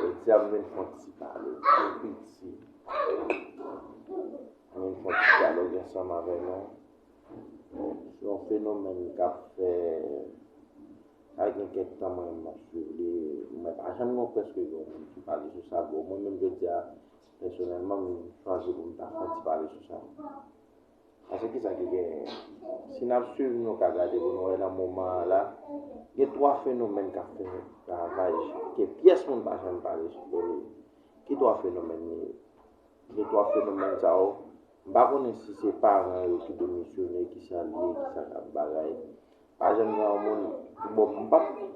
Jodi a m vin fè yon ti pale tou piti. M vin fè yon ti dyaloge ansanm avè nou sou yon fenomèn k ap fè, sa gen kèk tan mwen menm m ap swiv li, men pa janm gen prèske gen yon moun ki pale sou sa. Bon mwen menm jodi a pèsonèlman m chwazi pou m ta fè yon ti pale sou sa. Paske ki sa ki genyen? Si n ap swiv nou ka gade pou nou wè nan moman an la, gen twa fenomèn k ap fè ravaj ke pyès moun pa janm pale sou do li. Ki twa fenomèn yo ye? Gen twa fenomèn sa yo, m pa konnen si se paran yo ki demisyone, ki sa li ye, ki sa k ap bagay. Pa janm gen yon moun, bon m pa p,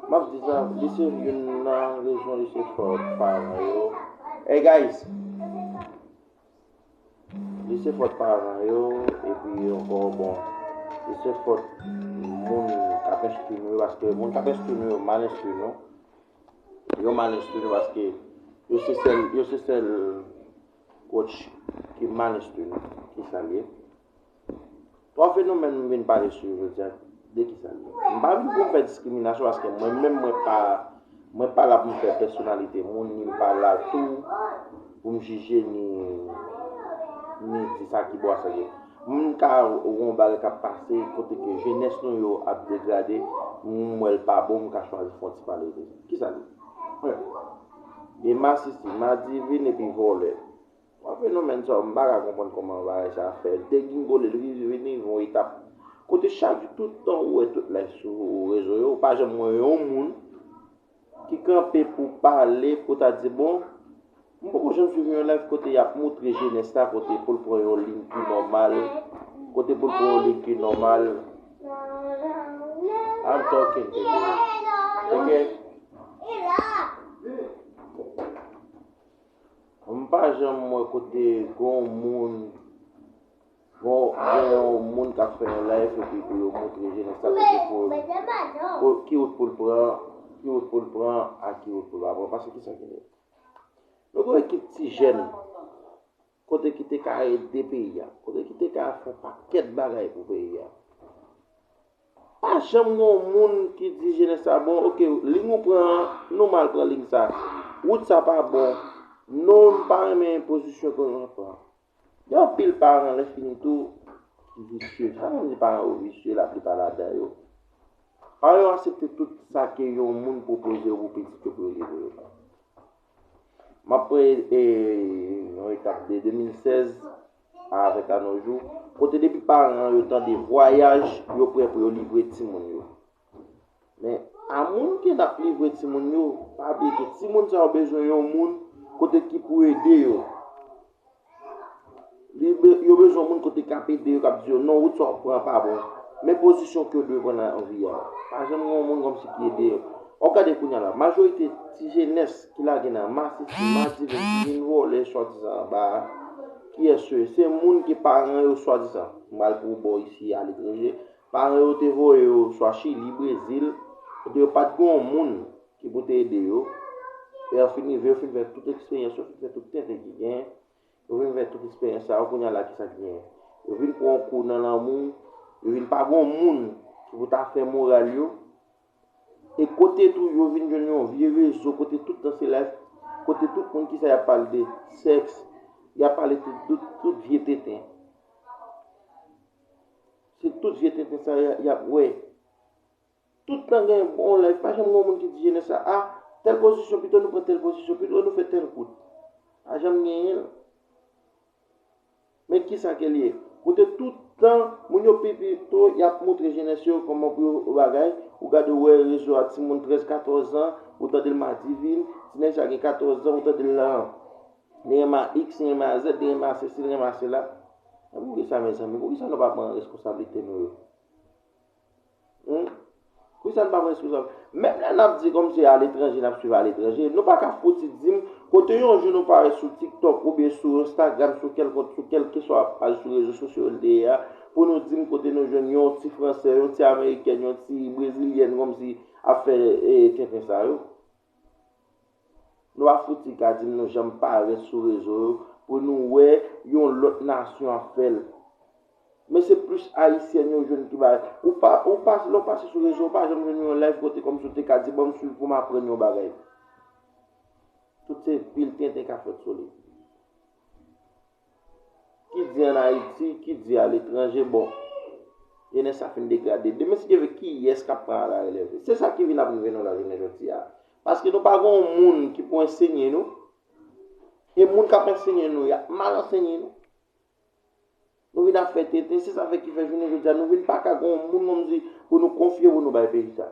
m ap di sa, li se youn nan rezon li se fòt paran yo. Egayis! Li se fòt paran yo epi ankò bon li se fòt moun kap enstwi nou yo paske moun kap enstwi nou yo mal enstwi nou. Yo mal enstwi nou paske yo se sèl yo se sèl kotch ki mal enstwi nou, se sa l ye. 3 fenomèn m vin pale sou yo jodi a, de ki sa l ye? M pa vin pou m fè diskriminasyon paske mwen menm mwen pa mwen pa la pou m fè pèsonalite moun ni m pa la tou pou m jije ni ni di sa ki bon a sa ki m ka wè yon bagay k ap pase kote ke jenès nou yo ap degrade m wè l pa bon m ka chwazi fè yon ti pale de sa. Ki sa l ye? 1. Gen masisi, madivin epi vòlè. Yon fenomèn sa m paka konprann kòman bagay sa fè degingole li rive vin rive yon etap kote chak tout tan ou wè tout lè sou rezo yo ou pa janm wè yon moun ki kanpe pou pale pou ta di bon m poko janm swiv yon live kote y ap moutre jenès la kote pou l pran yon liy ki nòmal kote pou l pran yon liy ki nòmal I'm talking baby ok M pa janm wè kote gon moun gon yon moun kap fè yon live epi pou yo moutre jenès la kote pou ki wout pou l pran, ki wout pou l pran ak ki wout pou l pa pran paske kisa ki net. Nou gon ekip ti jèn kote ki te ka ede peyi a, kote ki te ka fè pakèt bagay pou peyi a. Pa janm gon moun ki di jenès la bon ok ling ou pran an nou mal pran ling sa wout sa pa bon non m pa renmen pozisyon ke nou pran gen anpil paran lè fini tou ki visye sa vle di paran yo visye la plipa ladan yo paran yo asepte tout sa ke yon moun pwopoze pou pitit yo pou yo leve yo M ap pran yon etap de 2016 a avèk anojou, kote depi paran yo tande vwayaj, yo prè pou yo livre timoun yo. Men, a moun ke n ap livre timoun yo, pa bliye ke timoun sa yo bezwen yon moun kote ki pou ede yo. Yo bezwen moun kote kap ede yo kap di yo non wout sa wap pran pa bon. Men pozisyon ke yo dwe pran nan vi a. Pa janm gen yon moun kòm si ki ede yo. Wap gade kounya la, majorite ti jenès ki lage nan masisi, madiven, ki vin vòlè swadizan anba a, kiyès yo ye? Se moun ke paran yo swadizan, m pral pou bò isi a aletranje, paran yo te voye yo swa Chili, Brezil, kote yo pat gen yon moun Ki pou te ede yo. E an fin rive yo fin fè tout eksperyans yo, fin fè tout tenten ki genyen. Yo fin fè tout eksperyans sa yo, kounye a la kisa ki genyen? Yo vin pran yon kou nan lanmou, yo vin pa gen yon moun ki pou ta fè moral yo. E kote tou yo vin jwenn yon vye rezo kote tout tan se life, kote tout moun kisa y ap pale de sèks, y ap pale de tout vye tenten. Se tout vye tenten sa yo y ap wè. Tout tan gen yon live pa janm gen yon moun ki di jenès la a tèl pozisyon pito nou pran tèl pozisyon pito nou fè tèl kout. Pa janm genyen. Men kisa ke li ye? Kote tout tan moun yo pi pito y ap moutre jenès yo kòman pou yo bagay, ou gade wè rezo a timoun 13, 14 an ou tande l madivin, ti nèg sa gen 14 zan ou tande l nan li renmen a iks, li renmen a zèd, li renmen a sesi, li renmen a sela. Men poukisa mezanmi, poukisa nou pa pran reskonsablite nou yo? Humm. Pou kisa n pa pran sou. Menm lè nap di kòm se aletranje nap swiv aletranje, nou pa ka fouti di m kote yon jou nou parèt sou tiktok oubyen sou enstagram sou kèlkont sou kèlkeswa paj sou rezo sosyo n te ye a pou nou di m kote nou jwenn yon ti fransè, yon ti amerikèn, yon ti brezilyèn kòm si ap fè tenten sa yo. Lwa fouti ka dim nou janm parèt sou rezo yo pou nou wè yon lòt nasyon ap fèl. Men se plis ayisyèn yo jwenn ki bay. Ou pa ou pa lè ou pase sou rezo ou pa janm jwenn yon live kote kòmsi ou te ka di banm swiv poum aprann yon bagay. Tout se pil tenten kap fèt sou li. Ki di an Ayiti, ki di a letranje bon. Jenès sa fin degrade. Demen si Dye vle ki yès kap pran ala relèv li? Se sa ki vin ap rive nou la jounen jodi a. Paske nou pa gen yon moun ki pou ensenye nou. E moun kap ensenye nou ya mal ensenye nou. Nou vin ap fè tenten. Se sa fè ki fè jounen jodi a nou vin pa ka gen yon moun moun di pou nou konfye pou nou bay peyi sa.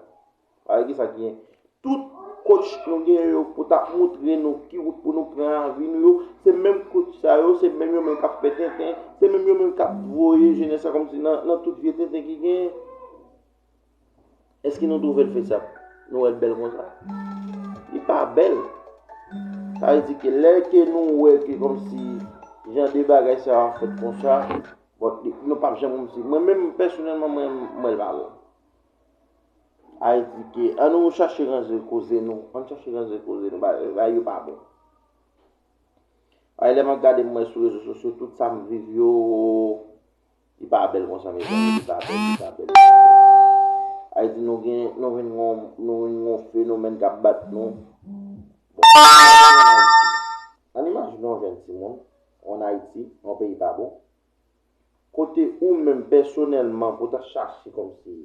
Gade kisa ki gen. Tout coach nou gen yo pou ta moutre nou ki wout pou nou pran nan vi nou yo, se menm coach sa yo, se menm yo menm k ap fè tenten, se menm yo menm k ap voye jenès la kòmsi nan tout vye tenten ki gen. Èske nou twouve l fezab? Nou wè l bèl konsa? Li pa bèl. Sa vle di ke lè ke nou wè ke kòmsi jan de bagay sa yo ap fèt konsa, bon, nou p ap janm kòmsi. Mwen menm, pèsonèlman, mwen wè l pa bon. Al di ke an nou chache ranje koze nou, an nou chache ranje koze nou, bagay yo pa bon. Ay lè map gade mwen sou rezo sosyo tout sa m viv yo li pa bèl konsa mezanmi li pa bèl li pa bèl li pa bèl. Ay di nou gen nou vin gon nou vin gon fenomèn kap bat nou. An imajine yon jenn timoun an Ayiti yon peyi pa bon. kote ou menm pèsonèlman pou ta chache kòmsi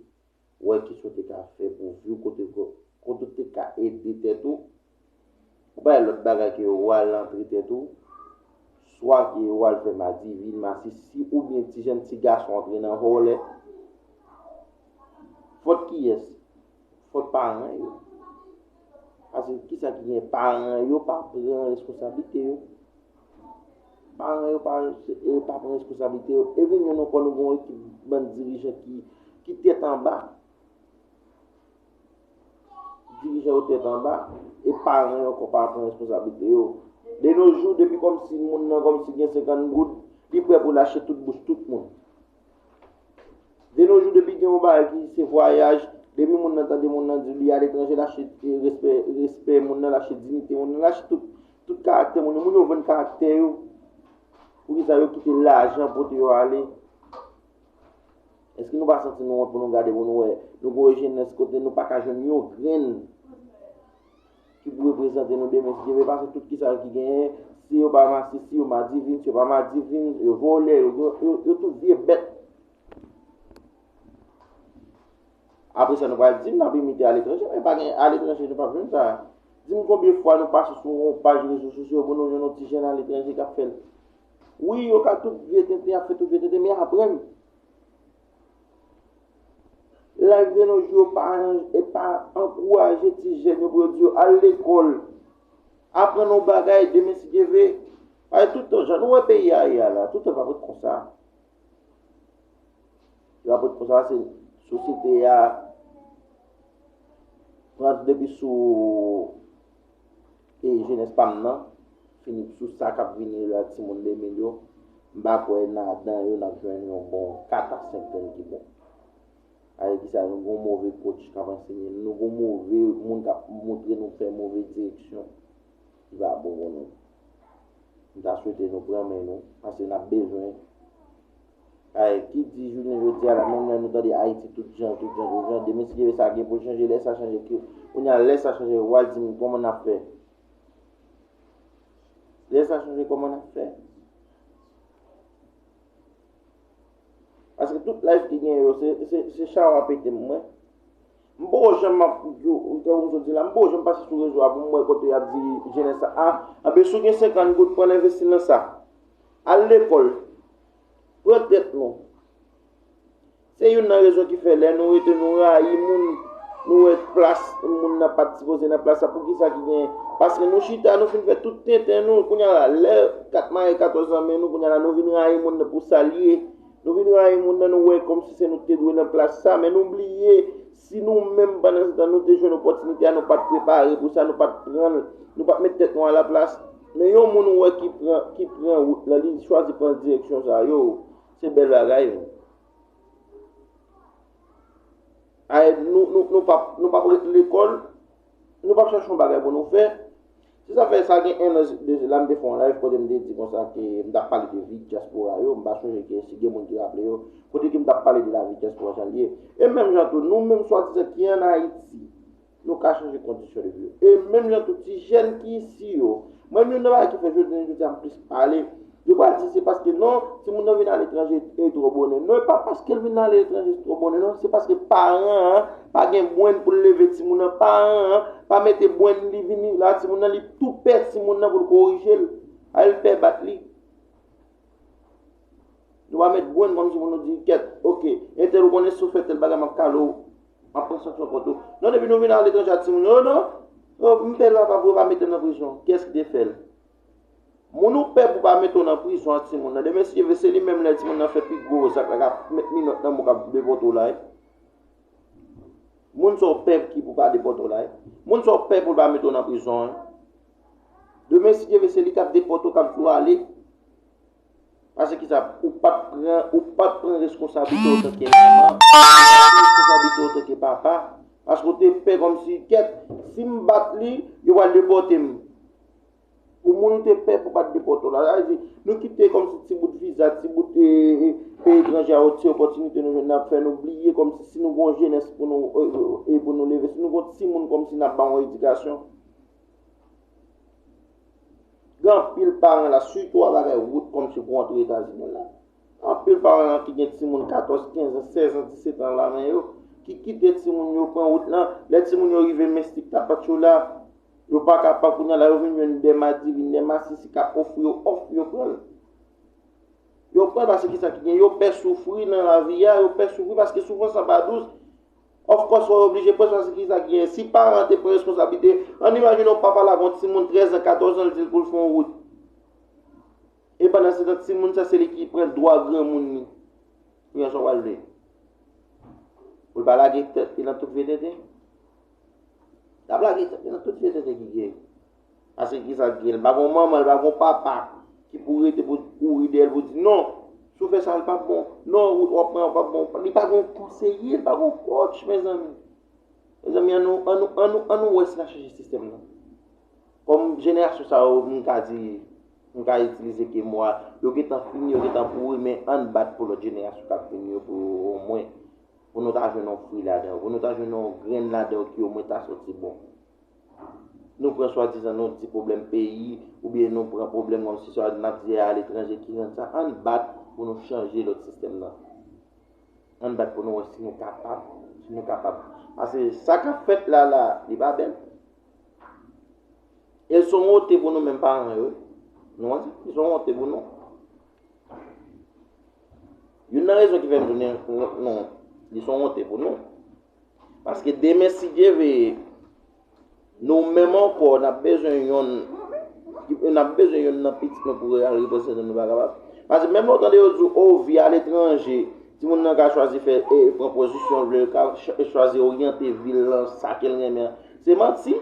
wè ki sa w te ka fè pou vi w, kote ou te ka ede tèt ou, ou pa wè lòt bagay ke ou al antre tèt ou, swa ke ou al fè madivin, masisi oubyen ti jenn ti gason antre nan vòlè. Fòt kiyès? Fòt paran yo. Paske ki sa ki gen paran yo pa pran reskonsablite yo. Paran yo pa pran responsablite yo. E vin yon nou kon nou gen yon ekip bann dirijan ki tèt anba. Dirijan yo tèt anba. E paran yo ankò pa pran responsablite yo. De no jou depi kòm si moun nan kòm si gen 50 goud, li prè pou l achte tout bouch tout moun. De nos jours depi gen yon bagay ki se vwayaj, depi moun nan tande moun nan di li al etranje l achte respè moun nan, l achte diyite moun nan, l achte tout. Tout karaktè moun yo, moun yo vann karaktè yo. Poukisa yo kite lajan pote yo ale? Eske nou pa santi nou wont pou nou gade pou nou wè nou gen yon jenès kote nou pa ka jwenn yon grenn ki pou reprezante nou demen si Dye vle pase tout kisa ki genyen si yo pa masisi yo madivin si yo pa madivin yo vòlè yo tout vye bèt apre sa nou pral di m nap imite aletranje men pa gen aletranje nou pap jwenn sa di m konbyen fwa nou pase sou yon paj rezo sosyo pou nou jwenn yon ti jèn aletranje kap fèl wi yo ka tout vye tenten ap fè tout vye tenten men aprann Live de nos jours pa pa ankouraje ti jèn yo pou yo di yo al lekòl, aprann yon bagay demen si Dye vle. Paske tout tan jan nou wè peyi a ye a la, tout tan l pap ret konsa. L pap ret konsa se sosyete a pran depi sou E jenes pam nan fini sou sa kap vini yo la timoun 2000 yo m pa kwè nan dan yo nap jwenn yon bon 4 a 5 grenn ki bon avek ki sa nou gon move coach kap ansenye nou nou gon move moun kap moutre nou fè move direksyon ki pa bon pou nou m ta swete nou pran men nou paske nap bezwen Ay ki di jounen jodi a la menm lè nou tande ayiti tout jan tout jan tout jan demen si gen sa gen poul chanje lè sa chanje ki kounye a lè sa chanje wa dim kòman nap fè lè sa chanje kòman nap fè paske tout life ki gen yo se se se chawa pete m mwen M poko janm ap di w kè w jodi la, m poko janm pase sou rezo a pou m wè kote y ap di jenès la a, anben si w gen 50 goud pran l envesti l nan sa. Al lekòl, pran tèt nou. Se youn nan rezon ki fè lè nou rete nou rayi moun, nou wè plas moun nan pa t sipoze nan plas la, pou ki sa ki gen, paske nou chita nou fin fè tout tenten nou, kounye a la lè kat maye katòz nan men nou, kounye a la nou vin rayi moun nan pou sa l ye. Nou vin rayi moun nan nou wè kòmsi se nou ki te dwe nan plas sa, men nou bliye si nou menm pandan se tan nou te jwenn opòtinite a nou pat prepare pou sa, nou pat pranl, nou pat met tèt nou a la plas. Men yon moun ou wè ki pran ki pran wout lan li chwazi pran direksyon sa yo se bèl bagay wi. Ayy nou nou nou pap nou pap ret lekòl Nou pap chache yon bagay pou nou fè. Se sa fè sa gen 1 an de la m te fè yon live kote m te di konsa ke m tap pale de vi dyaspora yo, m pa sonje ke si gen moun ki raple yo, kote ke m tap pale de lavi dyaspora jan l ye. E menm jan tou nou menm swadizan ki an Ayiti, nou ka chanje kondisyon de vi yo. E menm jan tou ti jèn ki isi yo, Mwen youn nan bagay ki fè jounen jodi a m plis pale, yo pral di se paske non timoun nan vin aletranje e twò bonè. Non e pa paske l vin aletranje se twò bonè non, se paske paran an pa gen brenn pou l leve timoun nan, paran an pa mete brenn li vini la timoun nan li tou pè timoun nan pou l korije l, al l pè bat li. Nou pa met gwenn kòm si pou nou di kèt. Ok, entèl ou konnen sou fè tèl bagay map kale ou. Map pran sanksyon kont ou. Non depi nou vin ale ton jati moun yo non. Oh, m pè lwa pa pou yo pa mete m nan prizon. Kiyès ki te fè l? Moun ou pè pou pa mete w nan prizon ak timoun nan. Demen si Dye vle se li menm lè timoun nan fè pi gwo zak la kap met minòt nan mou kap depòte w la e. Moun sa w pè ki pou pa depòte w la e. Moun sa w pè pou l pa mete w nan prizon an. Demen si Dye vle se li kap depòte w kap di w ale pase ki sa ou pap pran ou pap pran reskonsablite otan ke manman, ou pap pran reskonsablite otan ke papa paske ou te pè kòm si kèt si m bat li yo pral depòte m pou moun ou te pè pou pat depòte w la sa vle di nou kite kòm si ti bout viza ti bout peyi etranje a ti opòtinite nou jwenn ap fè nou bliye kòm si si nou gon jenès pou nou e pou nou leve si nou gon timoun kòm si nap ba yon edikasyon Gen anpil paran la, sitou a bagay wout kòm si pou antre Etazini la. Anpil paran la ki gen timoun 14, 15 an, 16 an, 17 an la men yo, ki kite timoun yo pran wout la, lè timoun yo rive Mestik, Tapachula, yo pa ka pran kounye a la, yo vin jwenn dè madivin, dè masisi k ap ofri yo òf, yo pran l. Yo pran l paske ki sa ki gen, yo pè soufri nan lavi a, yo pè soufri paske soufrans lan pa dous. Of course wap oblije pran chwazi kisa ki genyen. Si paran an te pran reskonsablite, ann imajine yon papa lave yon timoun 13 an, 14 an l di l pou l fè yon wout. E pandansetan timoun sa se li ki pran dwa granmoun li. Kounye a sa w pral di? Pou l pa lage tèt li nan tout vye tenten? Lap lage tèt li nan tout vye tenten ki genyen. Pase ki sa ki l pa gon manman l pa gon papa ki pou rete pou kouri dèyè l pou di non si w fè sa l pap bon non wout wap pran an pap bon li pa gon konseye li pa gon kotch mezanmi mezanmi an nou an nou an nou an nou wè si n ap chanje sistèm nan kòm jenerasyon sa yo m ka di m ka itilize ke mo a yo gentan fini yo gentan pouri men an n bat pou lòt jenerasyon k ap vini yo pou omwen pou nou ta jwenn yon fwi ladan yo pou nou ta jwenn yon grenn ladan yo ki omwen ta soti bon. Nou pran swadizan nou di pwoblèm peyi oubyen nou pran pwoblèm kòm si sa nap di a aletranje ki rann sa. Ann bat pou nou chanje lòt sistèm nan. Ann bat pou nou wè si nou kapab. Si nou kapab. Pase sa kap fèt la la li pa bèl. E l son wonte pou nou menm paran yo. Nou wè sa? Li son wonte pou nou. Youn nan rezon ki fè m tounen non li son wonte pou nou. Paske demen si Dye veye, nou menm ankò n ap bezwen yonn n ap bezwen yonn nan pitit nou pou al reprezante nou, nou pa kapab. Paske menm lè w tande yo di w, o vi aletranje, timoun nan ka chwazi fè e pran pozisyon l vle, l ka chwazi oryante vi l lan sa ke l renmen an. Se manti.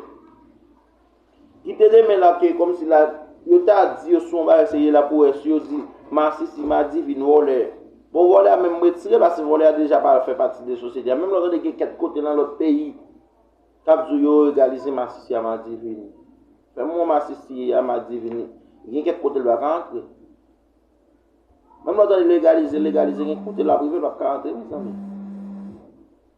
Ki te renmen la ke kom si la yo ta di yo sou yon bagay serye la pou es yo di masisi madivin volè. Bon volè a menm m retire l paske volè a deja pa fè pati de sosyete a. Menm lè w tande gen kèk kote nan lòt peyi k ap di w yo egalize masisi a madivin. Fè m wè w masisi a madivin gen kèk kote l pa ka antre. Menm lè w tande legalize legalize gen kote l ap rive l pa ka antre mezanmi.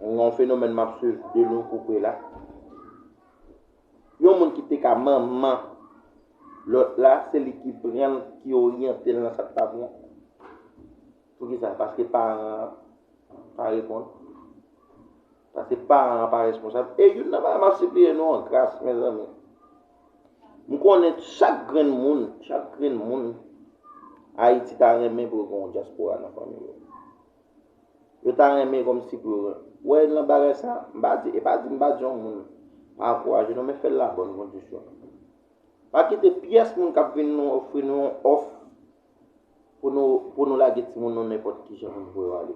M gen yon fenomèn map swiv de lwen kou pre la. Yon moun ki te ka manman lòt la, se li ki pran l, ki oryante l nan sa k pa bon. Poukisa? Paske paran an pa reponn. Paske paran an pa responsab. E youn nan bagay map sipliye nou an gras mezanmi. M konnen chak grenn moun, chak grenn moun Ayiti ta renmen pou l gen yon dyaspora nan fanmi l. Yo ta renmen komsi pou yo wè nan bagay sa. M pa di, e pa di m pa di yon moun pa ankouraje non men fè l la bòn kondisyon. Pa kite pyès moun k ap vin nou ofri nou yon òf pou nou pou nou lage timoun nou nenpòt ki jan pou yo ale.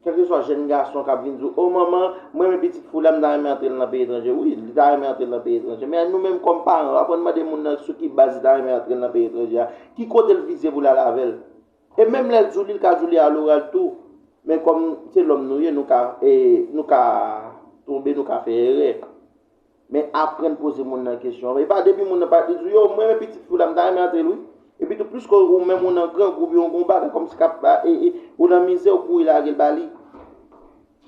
Kèlkeswa jèn gason k ap vin di w, o manman, m renmen pitit fi w la, m ta renmen antre l nan peyi etranje. Wi, li ta renmen antre l nan peyi etranje. Men nou menm kòm paran, aprann mande moun nan sou ki baz li ta renmen antre l nan peyi etranje a, ki kote l vize pou l al avè l. E menm lè l djou li l ka djou li a loral tou men kòm se lòm nou ye nou ka nou ka tonbe nou ka fè erè men aprann poze moun nan kesyon e pa depi moun nan pa di djou yow m renmen pitit fi w la m ta renmen antre l wi epi tou plis ke ou menm ou nan grangou oubyen ou gen yon bagay kòmsi k ap ou nan mizè ou kouri lage l ba li.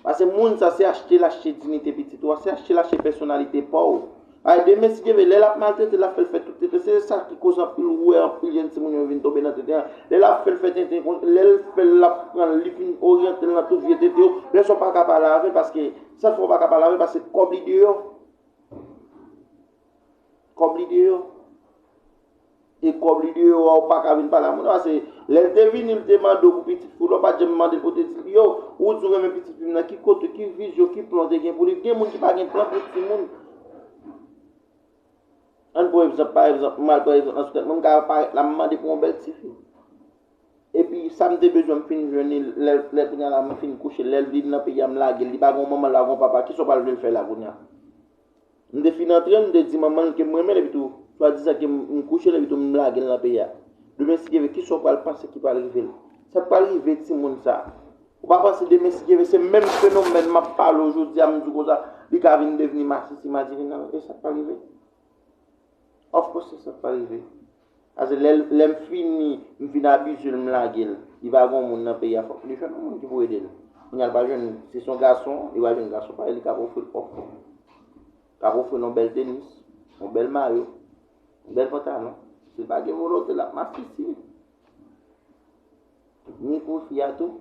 Pase moun sa se achte lache dinite pitit ou a, se achte lache pèsonalite pa w. Ay demen si Dye vle, lè l ap maltrete l ap fè l fè tout tenten, se sa ki koz anpil ou wè anpil jenn timoun yo vin tonbe nan tenten an, lè l ap fè l fè tenten kon, lè l fè l l ap pran l li fin oryante l nan tout vye tenten yo, lè sa w pa ka pale avè l paske, sa k fè w pa ka pale avè l paske kòb li deyò, kòb li deyò. E kòb li deyò a ou paka vin pale a moun a se lèl te vini li te mandew pou pitit fi ou la ou pat janm mandel pou pitit li yo ou di ou renmen pitit fi m nan ki kote ki vizyon ki plan ou te gen pou li gen moun ki pa gen plan pou timoun ann pran egzanp pa egzanp mwen al pran egzanp nan sou tèt mwen m ka parèt la m mande pou yon bèl ti fi epi sam te bezwen m fin jwenn li lè kounya la m fin kouche lèl vin nan peyi a m lagel li pa gen yon manman li pa gen yon papa kisa ou pral vlel fè la kounya M te fin antre, m te di manman l ke m renmen l epi tou, swadizan ke m kouche l epi tou m lage l nan peyi a. Demen si Dye vle, kisa w pral panse ki pral rive l? Sa k pral rive timoun sa a? Ou pa panse demen si Dye vle, se menm fenomèn m ap pale w jodi a, m di w konsa, li ka vin devni masisi madivinal? E sa k pral rive? Of course se sa k pral rive. Pase lèm fini m fin abusel m lagel li pa gon moun nan peyi a fòk li jwenn yon moun ki pou edel kounya li pa jwenn si son gason li pa jwenn gason parèy li kap ofril òf kap ofril yon bèl tenis yon bèl mayo yon bèl pantalon sil pa gen volonte lap masisi ni pou fi a tou.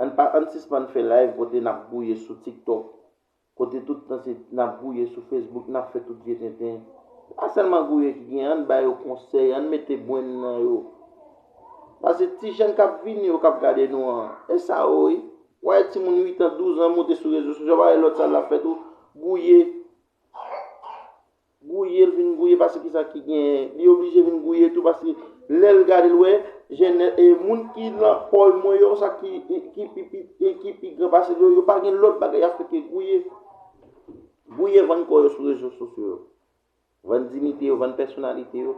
Ann pa ann sispann fè live kote nap gouye sou tiktok kote tout tan se nap gouye sou facebook nap fè tout vye tenten se pa sèlman gouye ki gen ann ba yo konsèy ann mete brenn nan yo pase ti jèn kap vini yo kap gade nou an e sa yo wi wap wè ti moun 8 ans 12 ans moute sou rezo sosyo wap wè lòt sa lap fè tou gouye. Gouye l vin gouye paske kisa ki genyen? Li oblije vin gouye tou paske lè l gade l wè jenès e moun ki nan kòy mwen yo sa ki ki pi piti e ki pi gran pase l yo yo pa gen lòt bagay y ap fè ke gouye. Gouye vann kò yo sou rezo sosyo yo. Vann diyite yo, vann pèsonalite yo.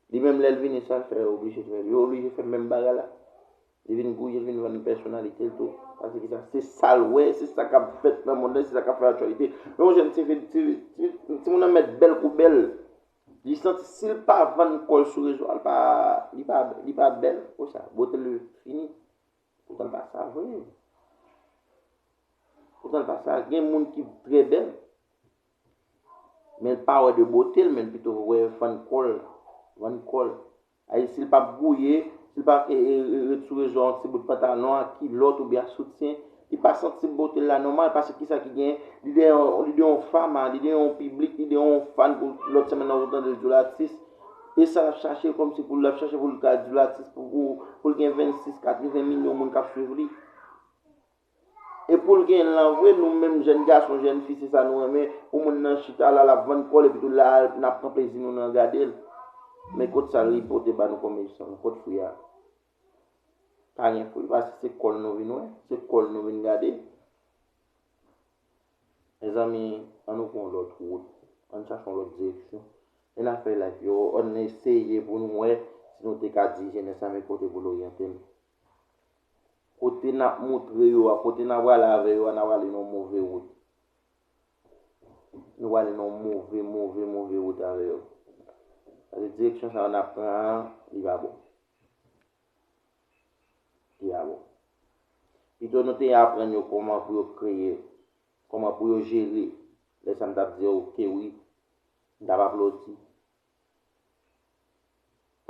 Li menm lè l vini sa l fè yo oblije fè l yo oblije fè menm bagay la. Li vin gouye, li vin vann pèsonalite l tou. Pase ki sa? Se sa l wè, se sa k ap fèt nan monn lan, se sa k ap fè aktyalite. Lè yon jèn ti fi, ti moun nan mèt bèl kou bèl, li santi si l pa vann kò l sou rezo a, li pa bèl. Pou sa? Bote l fini. Poutan l pa sa vre. Poutan l pa sa. Gen moun ki trè bèl, men l pa wè de bote l, men l pito wè vann kò l. Vann kò l. Ay si l pa bwouye, si l pa ret sou rezo a yon ti bout pantalon ak kilòt oubyen ak soutyen, li pa santi bote l la nòmal paske kisa ki genyen, li de yon fam a, li de yon piblik, li de yon fan pou lòt semenn nan ou tande l di w l atis. E sa l ap chache kòm si pou l ap chache pou l ka di w l atis pou l gen 26, 80 milyon moun k ap swiv li. E poul gen lan vre nou menm jèn gason jèn fi se sa nou renmen pou moun nan chita la lap vann kòl epitou la nap pran plezi nou nan gadel men kot sa li pote ba nou kòm esans kot fwi a pa gen fwi pase se kòl nou vin wè se kòl nou vin gade mezanmi an nou pran lòt wout an nou chache yon lòt direksyon e na fè live yo an nou eseye pou nou wè si nou te ka di jenès la men kote poul oryante l Kote n ap moutre yo a, kote n ap prale avè yo a, n ap prale nan yon move wout. Nou prale nan yon move, move, move wout avè yo. Paske direksyon sa yo n ap pran an, li pa bon. Li pa bon. Pito nou te aprann yo kòman pou yo kreye, kòman pou yo jere. Lè sa a m t ap di yo, ok wi, m t ap aplodi.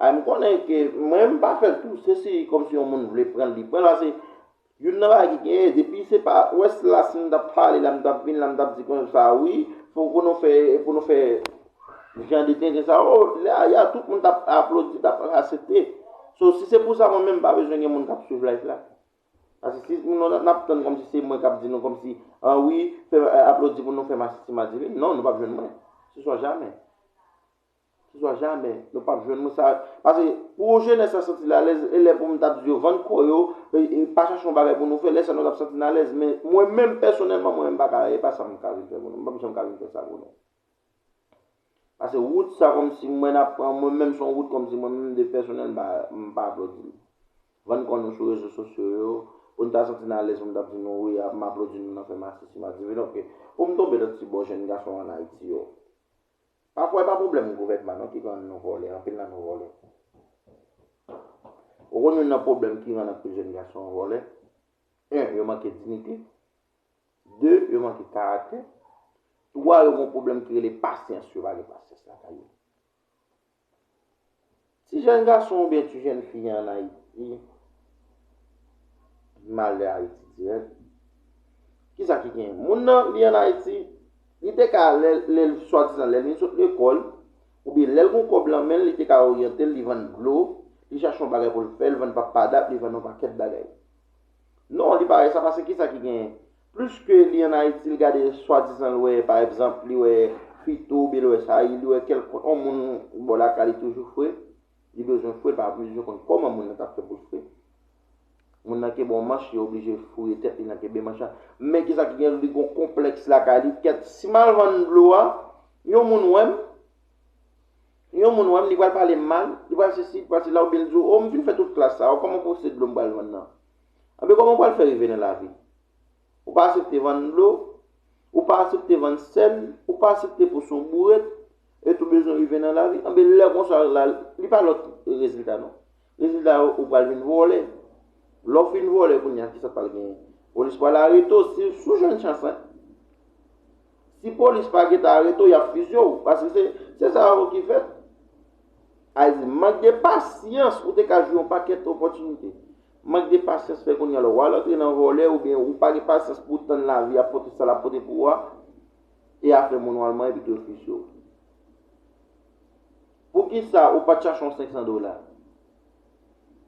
Ay m konnen ke mwen m pa fèl tou se si kòm si yon moun vle pranl li pranl ase youn nan bagay ki genyen depi se pa wè si la si m tap pale la m tap vin la m tap di konsa wi fò pou nou fè pou nou fè jan de tenten sa yo lè a ya tout moun tap aplodi tap asepte so si se pou sa mwen menm m pa bezwen gen moun kap swiv live la. Paske si nou nap tann kòmsi se mwen kap di nou kòmsi an wi aplodi pou nou fè masisi madivin non nou pap jwenn mwen se swa jamè se swa jamè nou pap jwenn mwen sa paske pou jenès la santi l alèz e lè pou m tap di yo vann kò yo e pa chache yon bagay pou nou fè lè sa nou tap santi n alèz men mwen menm pèsonèlman mwen menm m paka e pa sa m ka vin fè pou nou m pap janm ka vin fè sa pou nou. Pase wout sa kòmsi mwen ap pran mwen menm son wout kòmsi mwen menm de pèsonèl m pa aplodi nou. Van n kò nou sou rezo sosyo yo, pou n ta santi n alèz pou m ta ap di nou wi m aplodi nou nan fè masisi madiven ok. Pou m tonbe nan ti bò jèn gason an Ayiti yo. Pafwa e pa pwoblèm gouvènman non ki rann nou vòlè, anpil nan nou vòlè. Ou konn youn nan pwoblèm ki rann anpil jèn gason vòlè? 1, yo manke dinite. 2 yo manke karaktè, 3 yo gon pwoblèm ki rele pasyans, yo pa gen pasyans lakay yo. Ti jèn gason oubyen ti jèn fi an Ayiti, malè Ayiti dirèk, kisa ki gen? Moun nan li an Ayiti, li te ka lè l swadizan lè l vin sot lekòl, oubyen lè l gon kòb lan men l, li te ka oryante l, li vann dlo, li chache yon bagay pou l fè, li vann papada, li vann yon pakèt bagay. Non, li pa wè sa pase kisa ki genyen? Pliske li an Ayiti li gade swadizan l wè pa egzanp li wè Fito oubyen li wè Saïl, li wè kèlkonn on moun bò lakay li toujou fre, li bezwen fre l pa bezwen konn kòman moun nan t ap fè pou l fre. Moun nan kenbe on manch li oblije fouye tèt li nan kenbe manch la. Men kisa ki genyen li gen on konplèks lakay li kèt si m al vann dlo a yon moun wè m? Yon moun wè m, li pral pale m mal, li pral sesi, li pral sela oubyen li di w, o m fin fè tout klas sa, o kòman pou w se dlo m pral vann nan? Anben kòman w pral fè rive nan lavi? Ou pa asepte vann dlo, ou pa asepte vann sèl, ou pa asepte pou w se yon bourèt, et ou bezwen rive nan lavi, anben lè konsa la, li pa lòt rezilta non. Rezilta yo ou pral vin vòlè. Lè w fin vòlè kounya kisa pral genyen? Polis pral arete w si w sou jwenn chans lan. Si polis pa gentan arete w y ap fizye w paske se se sa yo ki fèt. Ayy di mank de pasyans ou te ka jwi yon pakèt opòtinite. Mank de pasyans fè kounya la w al antre nan vòlè oubyen ou pa gen pasyans pou w tann lavi a pote sa l ap pote pou ou a e afè moun w al manyen epi tou yo fizye w. Poukisa ou pat chache yon 500 dola?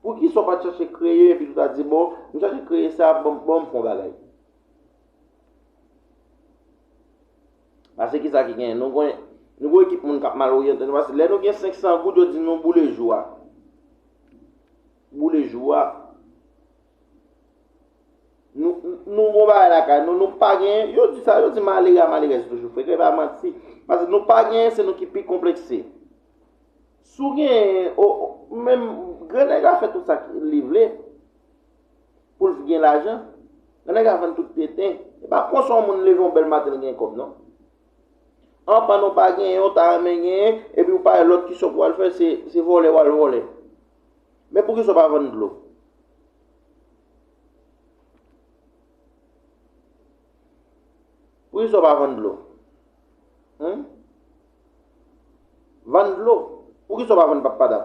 Poukisa ou pat chache kreye epi tou ta di bon, m chache kreye sa, bon bon m fè yon bagay. Pase kisa ki gen, nou gen nou gen ekip moun kap mal oryante nou pase lè nou gen 500 goud yo di nou boule jou a. Boule jou a. Nou gon bagay lakay nou, nou pa genyen, yo di sa, yo di malere a malerèz toujou frè, kè pa manti, pase nou pa genyen se nou ki pi konplekse. Sou genyen, o, menm, gran nèg la fè tout sa ki li vle, pou l gen lajan, gran nèg la vann tout tenten, e pa konsa yon moun leve yon bèl maten l gen kòb non. An pa nou pa genyen, ou ta renmen genyen, epi ou pa lòt ki sòk wal fè, se vòlè wal vòlè. Men poukisa w pa vann dlo? Poukisa w pa vann dlo? Hum? Vann dlo? Poukisa w pa vann pap padap?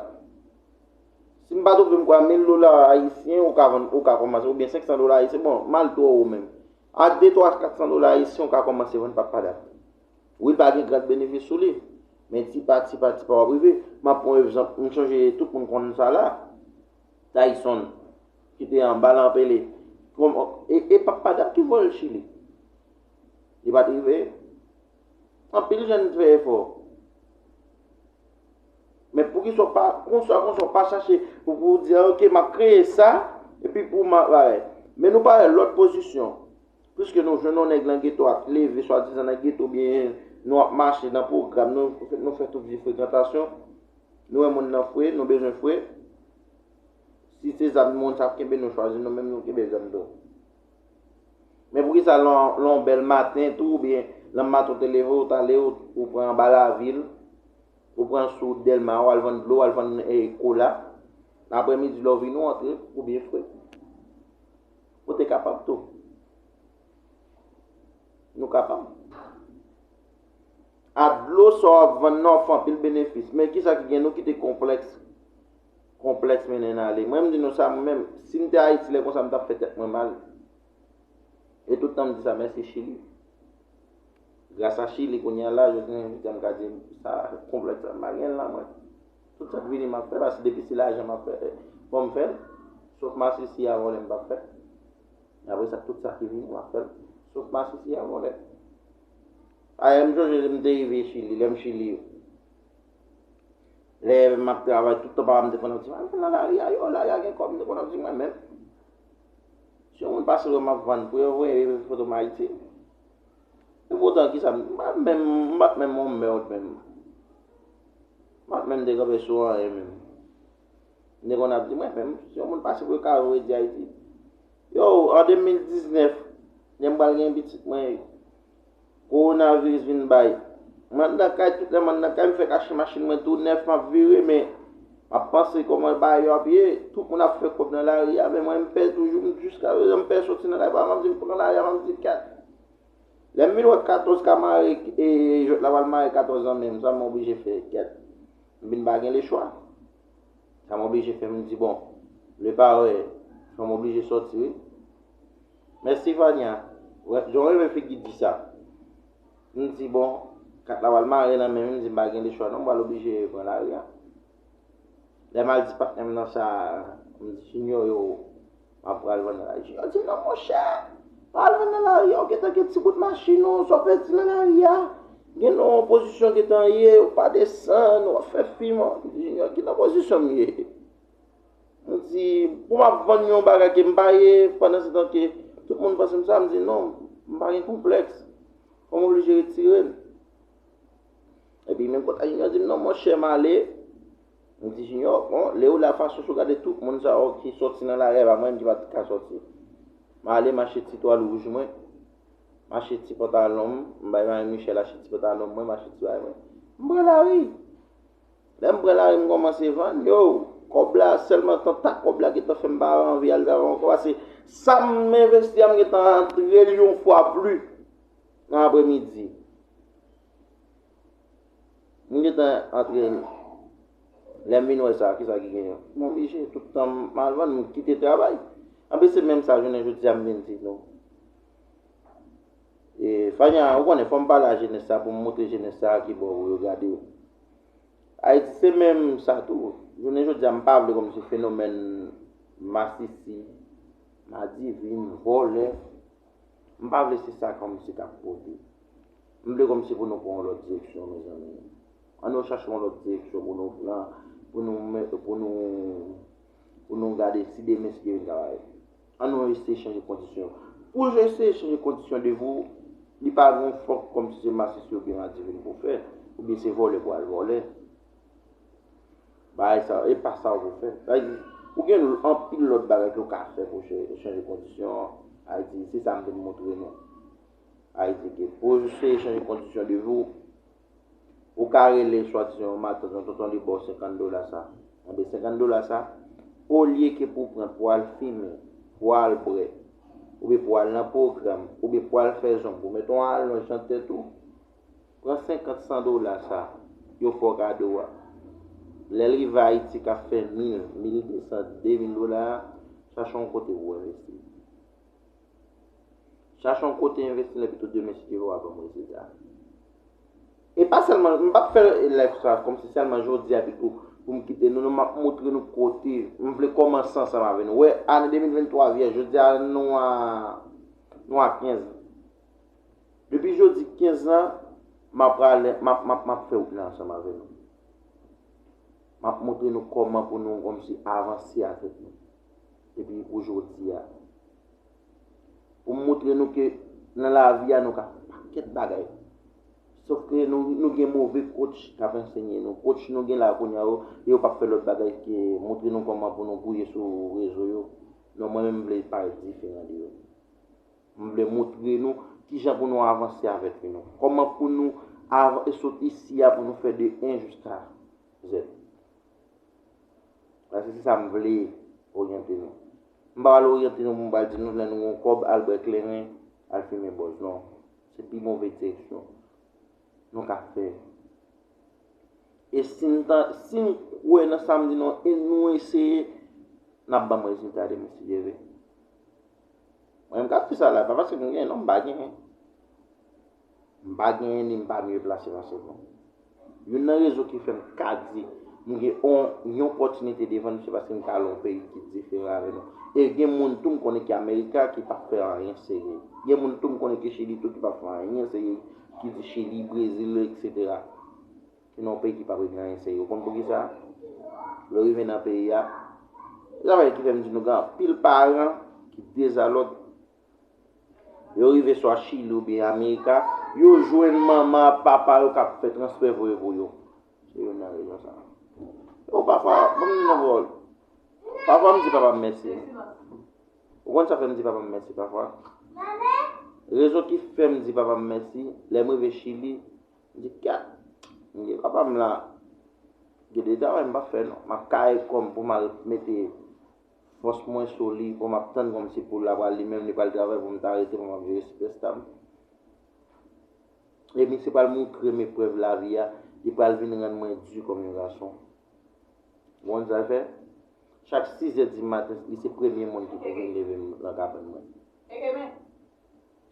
Si m pa twonpe m kwè 1000 dola ayisyen ou ka vann ou ka kòmanse oubyen 500 dola ayisyen bon mal twò wo menm. Ak 2, 3, 400 dola ayisyen ou ka kòmanse vann pap padap. Wi pa gen grad benefis sou li. Men ti pa ti pa ti pa wap rive. Map pran evzanp, m sonje tout moun konn sa la. Tayson ki te anba Lanpele. E pa Padap ki voye l Chili. Li pat rive. Anpil jèn fè efò. Men pou kisa w pa konsa konsa w pa chache pou pou w di ok map kreye sa epi pou m ap. Men nou pale lòt pozisyon. Piske nou jwenn yon nèg nan geto a k leve swadizan nan geto oubyen nou ap mache nan pwogram, nou fè tout vye frekantasyon, nou wè moun nan fre, nou bezwen fre, si se zam moun sa ap kenbe nou chwazi nou menm nou kenbe zam tou. Men poukisa lè yon bèl maten tou oubyen lè maten ou te leve ou ta ale ou pran anba lavil, ou pran sou wout Dèlma ou al vann dlo, ou al vann kola, aprè midi lè ou vini ou antre ou byen fre. Ou te kapab tou. Nou kapab. A dlo sa w ap vann nan w fè anpil benefis. Men kisa ki gen nou ki te konplèks. Konplèks mennen n ale. Mwen m di nou sa mwen menm. Si m te Ayiti lè konsa m t ap fè tèt mwen mal. E tout tan m di sa mèsi Chili. Gras a chili kounye a la jodi an invite m ka di sa konplèks la m pa gen l nan mwen. Tout sa k vini m ap fè paske depi se lajan m ap fè fò m fè l. Sof masisi a vòlè m p ap fè. Aprè sa tout sa ki vini m ap fè l. Sof masisi a vòlè. Ayè m sonje lè m te rive chili lè m chili yo. Lè m ap travay tout tan papa m te konn ap di m al nan lari a yo lari a gen kòb m te konn ap di mwen menm. Si yon moun pase wè m ap vann pou yo voye foto m ayiti. Pou otan kisa m pa menm, m pa t menm yon merd menm. M pa t menm te kanpe sou anyen menm. M te konn ap di mwen menm, si yon moun pase pou yo kare yo e di Ayiti. Yow, an 2019, lè m pral gen pitit mwen, kowonaviris vin bay. M andan kay, tout lè m andan kay, m fè kache machin mwen tou nèf, m ap vire men, Map panse koman bagay yo ap ye, tout moun ap fè kòb nan lari a, men mwen m pè toujou, m jiska prezan m pè soti nan lari paske map di m pran lari a map di kat. Lè m vin wè 14 ka mare e jwèt la pral mare 14 lan menm sa m oblije fè kat. M vin pa gen lechwa. Sa m oblije fè m di bon, le pare fò m oblije soti wi. Mèsi Vania, mwen renmen figi di sa. M di bon, kat la pral mare nan men m, m di m pa gen lechwa non, m pral oblije pran lari a. Lè m al di patnè m nan sa, m di ti nyo yo, m ap pral vann nan lari. Ti nyo di m nan monchè, pa al vann nan lari a, ou gen tan gen ti bout machin ou, sa w pèdi nan lari a. Gen nan yon pozisyon w gen tan ye, ou pa desann, w ap fè fim. M di ti nyo, ki nan pozisyon m ye? M di, pou m ap vann yon bagay ke m pa ye, pandansetan ke tout moun panse m sa, m di non, m pa gen konplèks. Fò m oblije retire m. Epi menm konsa Jinyò di m non monchè m ale. M di Jinyò, bon, lè ou la fason sou gade tout moun sa yo ki sòti nan lari ava mwen menm ki pa t ka sòti. M ale m achte ti twal wouj mwen, m achte ti pantalon m, m bay Mari Michèl achte ti pantalon mwen, m achte ti bagay mwen. M pran lari. Lè m pran lari m kòmanse vann yo, kòb la sèlman tanta kòb la gentan fè m pa anvi al travay ankò pase sa m envesti a m gentan rantre l yon fwa pli nan apremidi. M gentan antre l. Lè m vin wè sa, kisa ki genyen? M oblije tout tan m al vann, m kite travay. Anpi se menm sa jounen jodi a m vin di nou. E Fania, ou konnen fòm pale a jenès sa poum moutre jenès sa ki bò pou yo gade yo. Ayiti se menm sa tou. Jounen jodi a m pa vle konn se fenomèn masisi, madivin, vòlè, m pa vle se sa kòm si kap pote. M vle kòm si pou nou pran yon lòt direksyon mezanmi. An nou chache yon lòt direksyon pou nou pran, pou nou pou nou pou nou gade si demen si Dye vin travay. An nou eseye chanje kondisyon yo. Pou w eseye chanje kondisyon de vi w, li pa gen fòk kòm si se masisi oubyen madivin pou w fè, oubyen se vòlè pou w al vòlè. Bagay sa yo, e pa sa yo pou w fè. Sa vle di, ou gen anpil lòt bagay ke w ka fè pou w chanje kondisyon Ayiti. Se sa m vin montre nou. Ayiti ke pou w eseye chanje kondisyon de vi w, Ou ka rele swadizan yon matant yon tonton li baw 50 dola sa. Anben 50 dola sa, olye ke pou pran pou al fimen, pou al bwè, oubyen pou al nan pwogram, oubyen pou al fè zong ou met yon alonj nan tèt ou, pran 50 san dola sa, yo fè w kado a. Lèl rive Ayiti kap fè mil, mil de san, de mil dola a, chache yon kote pou w envesti. Chache yon kote envesti lè pito demen si Jewova ban m rezilta. E pa sèlman, m pap fè live sa kòmsi sèlman jodi a pito pou m kite nou non, m ap montre nou kote m vle kòmanse ansanm avè nou. Wè, ane 2023 vyèj, jodi a nou a nou a 15 lan. Depi jodi 15 lan, m ap prale, m ap, m ap, m ap fè wout la ansanm avè nou. M ap montre nou kòman pou nou kòmsi avanse avèk nou. epi ou jodi a. Pou m moutre nou ke nan lavi a nou ka fè pakèt bagay. Sof ke nou gen move kotch k ap ansenye nou. Kotch nou gen la kounye a yo, yo p ap fè lòt bagay ke moutre nou kòman pou nou gouye sou rezo yo. Non mwen menm m vle pa diferan de yo. M vle moutre nou kijan pou nou avanse avèk vi nou. Kòman pou nou sot isi a pou nou fè de 1 jiska zèd. Paske se sa m vle oryante nou. M pa pral oryante nou pou m pral di nou lè nou gen yon kòb al bwè kleren, al fimen bòz. Non. Se pi move direksyon nou ka fè. E si n ta, si n kwè nan sa m di nou an e nou eseye, n ap ban m rezilta demen si Dye vle. Mwen menm k ap di sa la, pa paske m gen non, m pa gen. M pa genyen li m pa mye plase pase nou. Youn nan rezon ki fè m ka di nou gen yon opòtinite devan nou se paske nou ka lon peyi ki diferan avè nou. E gen moun tou m konnen ki Amerika ki pa fè anyen serye. Gen moun tou m konnen ki Chili tou ki pa fè anyen serye ki di Chili, Brezil eksetera. Se nan yon peyi ki pa regle anyen serye. Ou konn pou ki sa? Lè rive nan peyi a, se sa fè ki fè m di nou gen anpil paran ki dezalòd Yo rive swa Chili ou byen Amerika, yo jwenn manman ak papa yo k ap fè transfè voye pou yo. Se youn nan rezon sa a. Ou pafwa, ban m di nou anko, pafwa m di papa m mèsi. Ou konn sa k fè m di papa m mèsi pafwa? Rezon ki fè m di papa m mèsi, lè m rive Chili, m di kat, m di papa m la, gen de travay m pa fè non. M ap kare kò m pou m al mete Fòs mwen sou li oh map tann kòmsi poul la pral li menm li pral travay poum ta rete pou map jere super star m Ebyn se pral moutrem eprèv lavi a li pral vin rann mwen di kòm yon gason Ou konn sa l fè Chak 6 zè di maten li se premye moun ki pou vin levem lan kabann mwen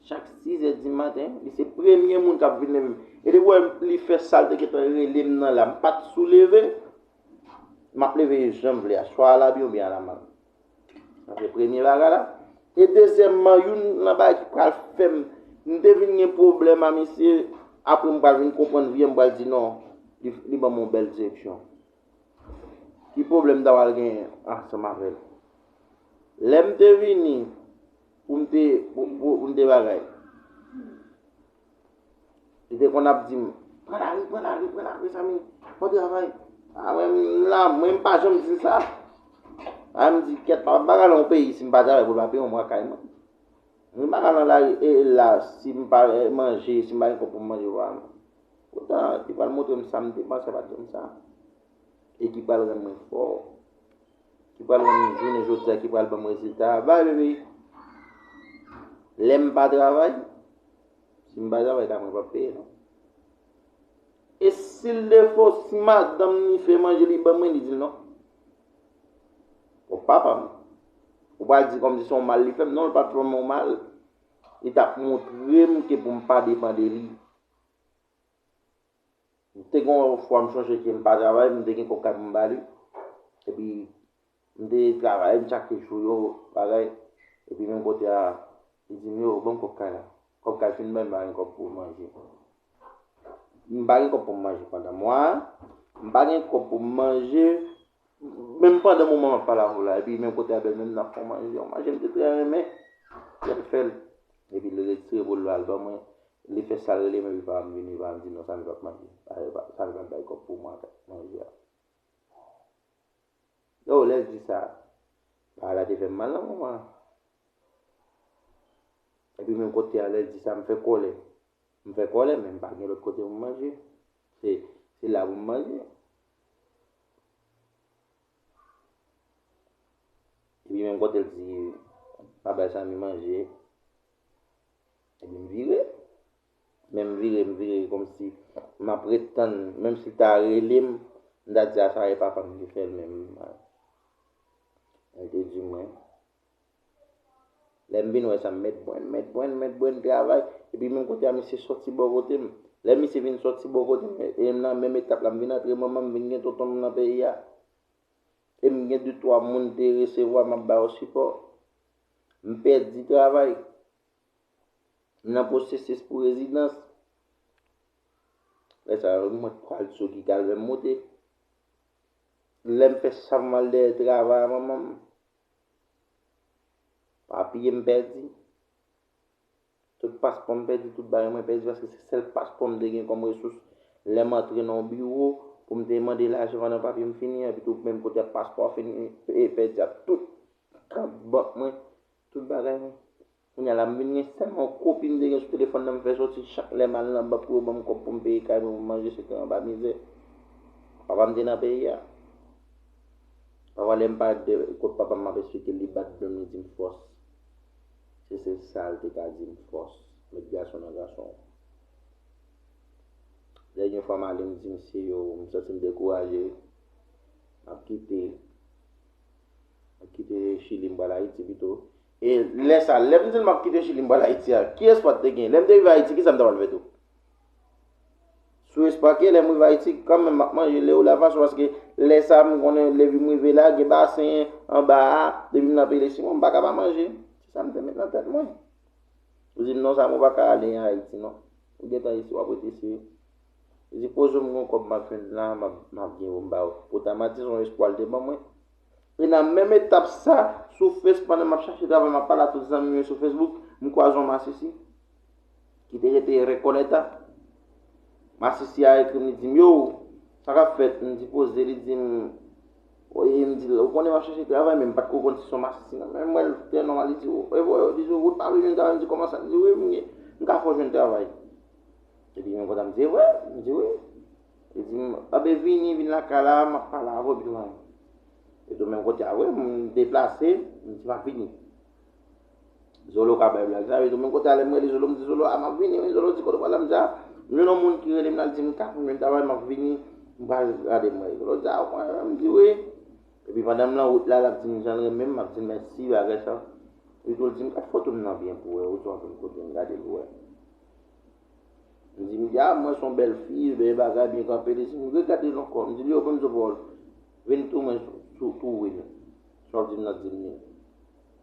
Chak 6 zè di maten li se premye moun kap vin levem e depi ou wèm li fè sal te gentan relem nan la m pat sou leve. M ap leve yo jan m vle a, swa alabyen oubyen alamal. Sa se premye bagay la. E dezyèmman, youn nan bagay ki pral fè m, m te vin gen pwoblèm a misye, apre m pral vin konprann vye, m pral di non, li ban m yon bèl direksyon. Ki pwoblèm m ta pral genyen ansanm avè l? Lè m te vini pou m te bagay, Li te konn ap di m, Pran lari, pran lari, pran lari, mezanmi, bon travay. A mwen m la, mwen m pa janm di l sa. A m di, Kèt, m pa pral nan yon peyi si m pa travay pou l pa peye yon mwa kay mwen. Mwen pa pral nan lari e la si m pa manje, si m pa gen kòb pou m manje vwa mwen. Poutan, li pral montre m sa m te panse l pa t janm sa. E ki pral rann mwen fò. ki pral wè m jounen jodi a ki pral ban m rezilta a. By the way, lè m pa travay, si m pa travay la mwen p ap peye non. E si l defo, si madanm li fè manje li ban mwen, li di l non. Bon, papa m, ou pa di kòmsi se yon mal li fè m. Non, li pa t fè m yon mal. Li t ap montre m ke pou m pa depan de li. M te gon yon fwa m chonje ke m pa travay, m te gen kòb kay pou m ba li. Epi m te travay, m tchake jou yo, bagay. Epi menm kote a, li di m yo, ban m kòb kay la. Kòb kay fin bay, m pa gen kòb pou manje. M pa gen kòb pou m manje pandan mwa a. M pa gen kòb pou m manje. Menm pandan moman map pale avèw la epi menm kote a bèl menm nap fon manje yon manje mte trè renmen lèl fèl epi li retire bol la al ban mwen li fè sal relem epi pam vini pam di non Samy pap manje Samy pap bay kòb pou mwen ak manje a oh lèl di sa pawòl la te fèm mal nan moman an epi menm kote a lèl di sa mfè kòlè mfè kòlè men mpa gen lòt kote pou manje se la pou manje Epi menm kote l di pa bay Samy manje, epi m vire. Men m vire, m vire kòmsi m ap ret tann, menm si l ta rele m, m ta di a sa e papa m ki fè l menm. Li te di mwen. Lè m vin wè sa, Mèt Brenn, Mèt Brenn, Mèt Brenn travay, epi menm kote a misye sòti bò kote m. Lè misye vin sòti bò kote m, e m nan menm etap la, m vin antre manman m, m vin gen tonton m nan peyi a. E m gen de twa moun m te resevwa m ap ba yo sipò. M pèdi travay. M nan pwosesis pou rezidans. Lè sa yo, mwen pral sou ki kal lè m moute. Lè m fè sa m al dèyè travay a manman m. Papye m pèdi. Tout paspò m pèdi, tout bagay mwen pèdi paske se sèl paspò m te gen kòm resous lè m antre nan yon biwo pou m te mande lajan pandan papye m fini an epitou menm kote paspò a fini pèdi ak tout kat bank mwen, tout bagay mwen. Kounya la m vin gen sèlman yon kopi m te gen sou telefòn nan m fè sòti chak lè m al nan bank pou yo ban m kòb pou m peye kay mwen pou m manje se te anba mizè papa m te nan peyi a. Pafwa lè m pale de kot papa m m ap esplike l li bat dlo m li di m fòs se sèl sa l te ka di m fòs met gason nan gason w. Dènye fwa m ale m di misye yo m santi m dekouraje m ap kite m ap kite chili m pral ayiti pito E lè sa, lè m di l m ap kite Chili m pral Ayiti a, ki espwa te gen? Lè m te rive Ayiti, ki sa m ta pral fè tou? Sou espwa ke lè m rive Ayiti, kan menm m ap manje le ou la vache, paske lè sa m konnen lè vi m rive la, gen basen anba a, depi m nan peyi Lesimon, m pa ka pa manje. Se sa m te met nan tèt mwen. Yo di m non Samo ou pa ka ale an Ayiti non. Ou gen tan isi, w ap rete isi wi. Yo di poze m yon kòb m ap jwenn la, m ap gen pou m ba ou. Poutan Mati se yon espwa l te ban mwen. E nan menm etap sa, sou Face pandan m ap chache travay m ap pale a tout zanmi m yo sou Facebook, m kwaze yon masisi ki te rete Recoleta. Masisi a ekri m li di m yow, sa k ap fèt? M di poze, li di m e m di l ou konnen m ap chache travay men m pa t ko konn si se yon masisi nan men m wè l trè nòmal li di e bro li di ou t pa vle jwenn travay m di kòman sa li di wi m ka fè w jwenn travay. Epi m kontan m di e vre? Li di wi. Li di m, Anben vini, vin lakay la, m ap pale avè w pi lwen. Yo te menm kote a vre, m deplase, m di m ap vini. Zolo ka bay blag sa, yo te menm kote a lè m rele Zolo, m di Zolo, a m ap vini wi, Zolo di kote w pral la, m di a, m jwenn yon moun ki rele m la, li di m ka konn menm travay, m ap vini, m pral gade m wè. Zolo di a ou konnen menm, m di wi. Epi pandan m lan wout la, l ap di m jan l renmen m, m ap di l mèsi, bagay sa. Li tou di m gad foto m nan byen pou w wè, ou sou anpil kote, m gade l pou w wè. Li di m, Ya, m wè se yon bèl fi, bèl bagay, byen kanpe. Li di m, Regad li ankò. M di l, Yo, bon Dye bon, vin tou mwen sou tou wi nou. Sa w di m nan di m ni.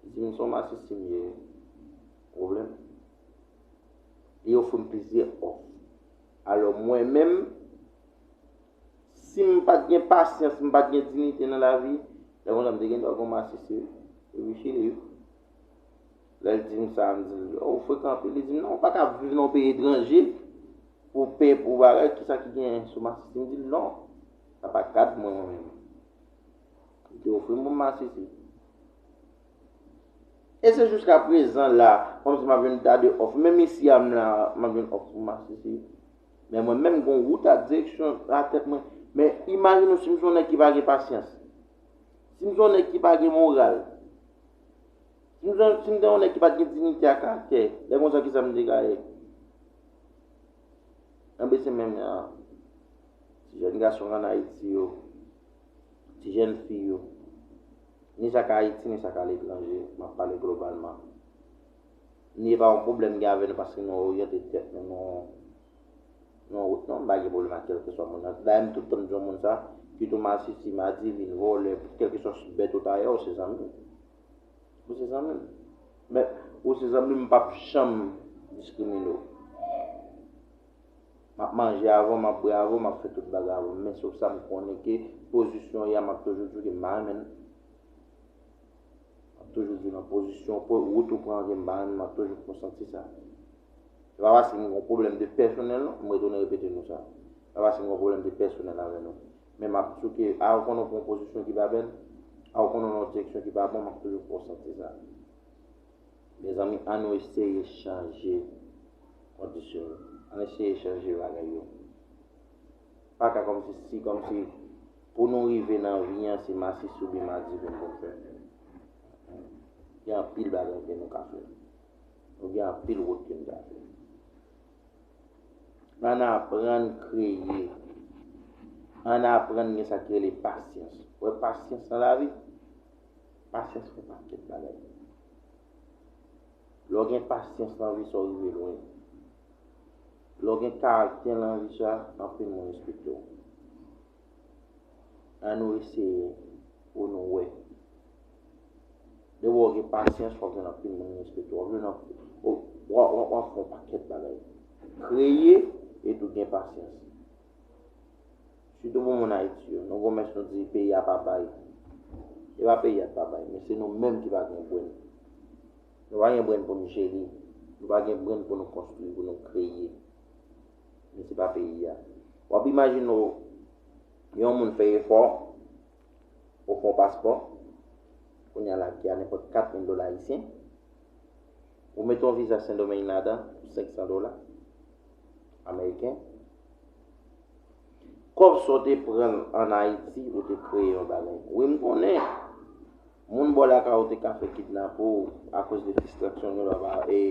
Li di m, Se yon masisi m ye wi. Pwoblèm? Li ofri m plizyè òf. Alò mwen menm, si m pa t gen pasyans, m pa t gen dinite nan lavi, lè konsa m te gendwa gen yon masisi wi. Epi chili wi. Lè l di m sa, m di l, O, ou frekan anpil. Li di m, Non, ou pa ka viv nan yon peyi etranje pou w pè pou bagay. Kisa ki gen sou masisi? M di l, Non, sa pa kad mwen mwen menm. Li te ofri m pou m masisi. E se jiska prezan la, kòmsi m ap jwenn ta de òf. Menm isi a m la, m ap jwenn òf pou masisi. Men mwen menm, gen yon wout a direksyon nan tèt mwen. Men imajine w si m se yon nèg ki pa gen pasyans. Si m se yon nèg ki pa gen moral. Si m te yon nèg ki pa t gen diyite ak karaktè, lè konsa ki sa m te ka ye? Enben se menm jan an, ti jèn gason k ann Ayiti yo, ti jèn fi yo, ni sa k Ayiti ni sa k aletranje, m ap pale globalman, ni e pa yon pwoblèm m gen avè nou paske nou oryante tèt nou nan yon wout non, m pa gen pwoblèm ak kèlkeswa moun nan. Dayè m tout tan m di yon moun sa, kit ou masisi, madivin, vòlè, kèlkeswa bèt ou ta ye, ou se zanmi m. Ou se zanmi m. Men, ou se zanmi m, m pap janm diskrimine w. M ap manje avè w, m ap bwè avè w, m ap fè tout bagay avè w. Men sof sa m konnen ke pozisyon w ya m ap toujou di w ke m pa renmen l. M ap toujou di w nan pozisyon w, pou wout ou pran ke m pa renmen l, m ap toujou fè w santi sa. Se pa paske m gen yon pwoblèm de pèsonèl non, m retounen repete nou sa. Se pa paske m gen yon pwoblèm de pèsonèl avè nou. men map souke a ou konnen ou pran yon pozisyon ki pa bèl a ou konnen ou nan yon direksyon ki pa bon map toujou fè w santi sa mezanmi an nou eseye chanje kondisyon yo an nou eseye chanje bagay yo pa ka kòm si si kòm si pou nou rive nan vi an se masisi oubyen madivin pou nou fè gen anpil bagay ke nou ka fè nou gen anpil wout ke nou ka fè. Ann aprann kreye. Ann aprann gen sa ki rele pasyans. Ou wè pasyans nan lavi? Pasyans fè pakèt bagay. Lè w gen pasyans nan vi sa w rive lwen. Lè w gen karaktè nan vi sa, anpil moun respekte w. An nou eseye pou nou wè. Depi w gen pasyans, w ap jwenn anpil moun respekte w. W ap jwenn anpil. W ap fè yon pakèt bagay. Kreye epi gen pasyans. Sitou pou moun Ayiti yo. Nou gen yon mès nou di peyi a pa bay. Se pa peyi a ki pa bay, men se nou menm ki pa gen brenn. Nou pa gen brenn pou nou jere. Nou pa gen brenn pou nou konstwi, pou nou kreye. Men se pa peyi a. W ap imajine w yon moun fè efò, ou fè yon paspò, kounye a la ki a nenpòt 4 mil dola ayisyen, ou mete yon viza Sendomeng ladan pou 500 dola ameriken, kòb sa w te pran an Ayiti ou te kreye yon bagay. Wi m konnen Moun bò lakay ou te ka fè kidnape w akoz de fistraksyon yon lòt a e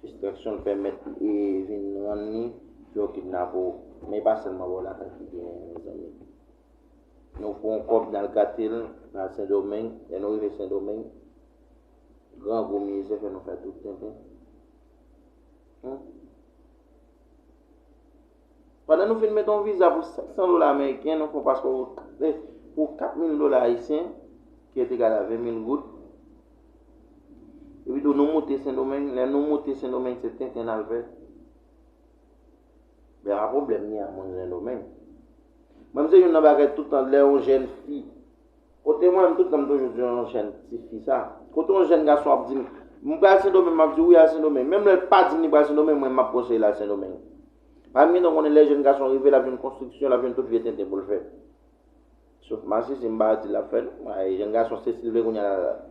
fistraksyon l pèmèt e vin rann li fè w kidnape w men e pa sèlman bò lakay ki gen an mezanmi nou pran kòb n al gate l n al sendomeng lè nou rive sendomeng grangou mizè fè nou fè tout tenten humm. Pandan nou fin met yon viza pou 500 dola ameriken, nou fè yon paspò pou 4000 dola ayisyen, ki et egal a 20 mil goud. Epitou nou moute Sendomeng, lè nou moute Sendomeng se tenten n al fè. Men a pwoblèm gen ak moun Sendomeng. Mwen se yon nan bagay toutan lè yon jèn fi. Kote mwen, m tout tan m toujou di yon jèn ti fi sa. Kote yon jèn gason ap di m, m pral Sendomeng, m ap di wi al Sendomeng. Menm lè l pa di m li pral Sendomeng, mwen m ap konseye l al Sendomeng. Pa m gen tan konnen lè jèn gason rive, l ap jwenn konstriksyon, l ap jwenn tout vye tenten pou l fè. Sof masisi, m pa di l ap fè non. Bagay jèn gason se si l vle kounye a l al.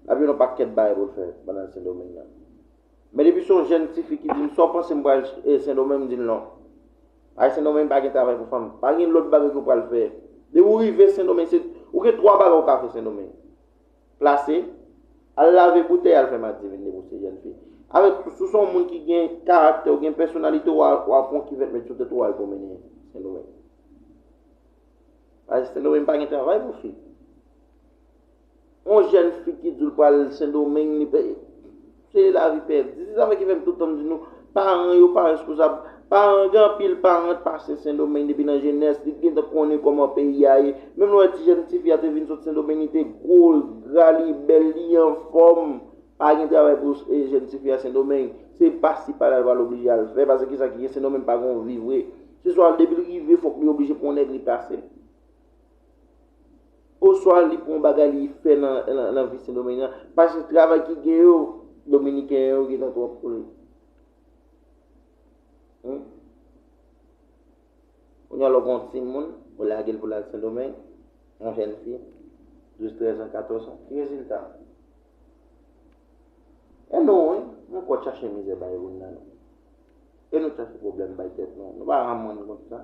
L ap jwenn yon pakèt bagay pou l fè pandan l Sendomeng nan. Men depi son jèn tifi ki dim saw panse m pral sendomeng m dil non. Ay sendomeng pa gen travay pou fanm pa gen lòt bagay ke w pral fè depi w rive sendomeng se ou gen 3 bagay ou ka fè sendomeng plase al lave boutèy al fè madivin depi w se jèn fi avèk tou si w son moun ki gen karaktè ou gen pèsonalite w al pran yon kivèt met sou tèt ou al pwomennen sendomeng paske sendomeng pa gen travay pou fi. On jèn fi ki di l pral Sendomeng li pè se lavi pèdi. Se sa fè ki fè m tout tan m di nou paran yo pa responsab. Paran gen anpil paran t pase Sendomeng depi nan jenès li t gentan konnen kòman peyi a ye. Menm lè w wè ti jèn tifi a te vin sot Sendomeng li te gwo, l t gra, li bèl, li anfòm. Pa gen travay pou jèn tifi a Sendomeng. Se pasi pala l pral oblije al fè pase ki sa ki gen Sendomeng pa gen on vi vre. Se swa depi l rive fòk li oblije pran on nèg li pase l. Oswa li pou yon bagay li fè nan vi Sendomeng lan. Paske travay ki gen yo, Dominiken yo gen tan twòp pou li. Kounye a lè w gen yon timoun, ou lage l pou l al Sendomeng, yon jèn fi, 12, 13 an, 14 an, ki rezilta? E nou wi, nou konn chache mizè bay moun nan nou. E nou chache pwoblèm bay tèt nou. Nou pa rann moun kont sa.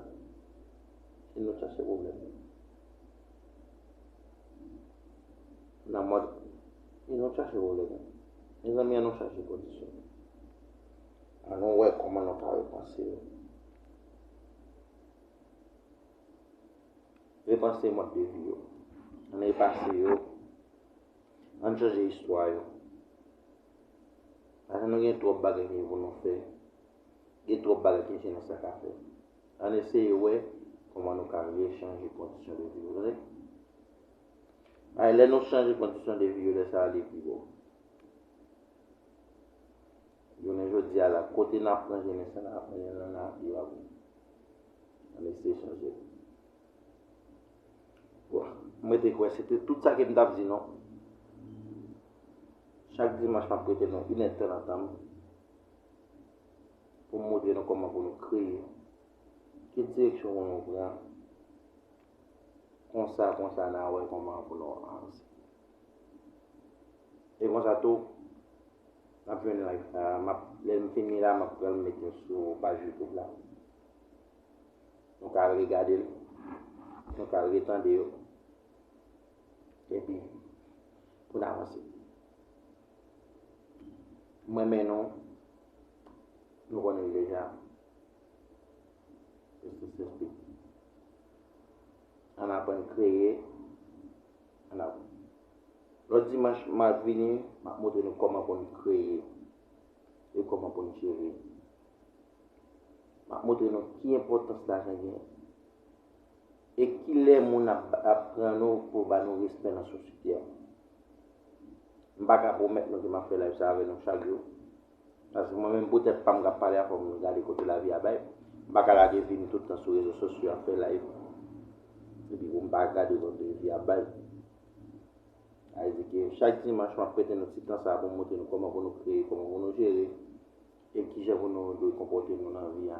Si nou chache pwoblèm nan mòd si nou chache pwoblèm mezanmi an nou chache kondisyon an nou wè kòman nou ka repanse yo repanse mòd de vi yo an repanse yo an chanje istwa yo paske nou gen twòp bagay ki pou nou fè gen twòp bagay ki se nèsè ka fè Ann eseye wè kòman nou ka rechanje kondisyon de vi yo. Tande! Bay lè nou chanje kondisyon de vi yo, lè sa a li pi bon. Jounen jodi a la, kote n aprann jennen sa n aprann yo nan lavi yo avèk nou. Ann eseye chanje l. Bon, m rete kwè se te tout sa ke m t ap di nou. Chak dimanch m ap prete nou inèdtan nan tan m. pou m montre nou kòman pou nou kreye, ki direksyon pou nou pran, konsa konsa n a wè kòman pou nou avanse. E konsa tou, n ap jwenn like sa a, m ap, lè m fini la m ap pran l m met l sou paj youtube la, nou ka al regade l, nou ka al retande yo, epi pou n avanse. M renmen nou. Nou konnen l deja. Justice is big. Ann aprann kreye. Ann ap. Lòt dimanch m ap vini, m ap montre nou kòman pou n kreye e kòman pou n jere. M ap montre nou ki enpòtans lajan gen. E kilè moun ap ap pran nou pou ba nou respè nan sosyte an? M pa ka pwomèt nou ke m ap fè layv sa avè nou chak jou. Paske mwen menm pou tèt pa m k ap pale a fò m gade kote lavi a bay. M pa ka lage vi m tout tan sou rezo sosyo ap fè layv. Epi pou m pa gade kote vi a bay. Sa vle di ke chak dimanch m ap prete nou ti tan sa pou m montre nou kòman pou nou kreye, kòman pou nou jere, e kijan pou nou dwe konpòte nou nan vi a.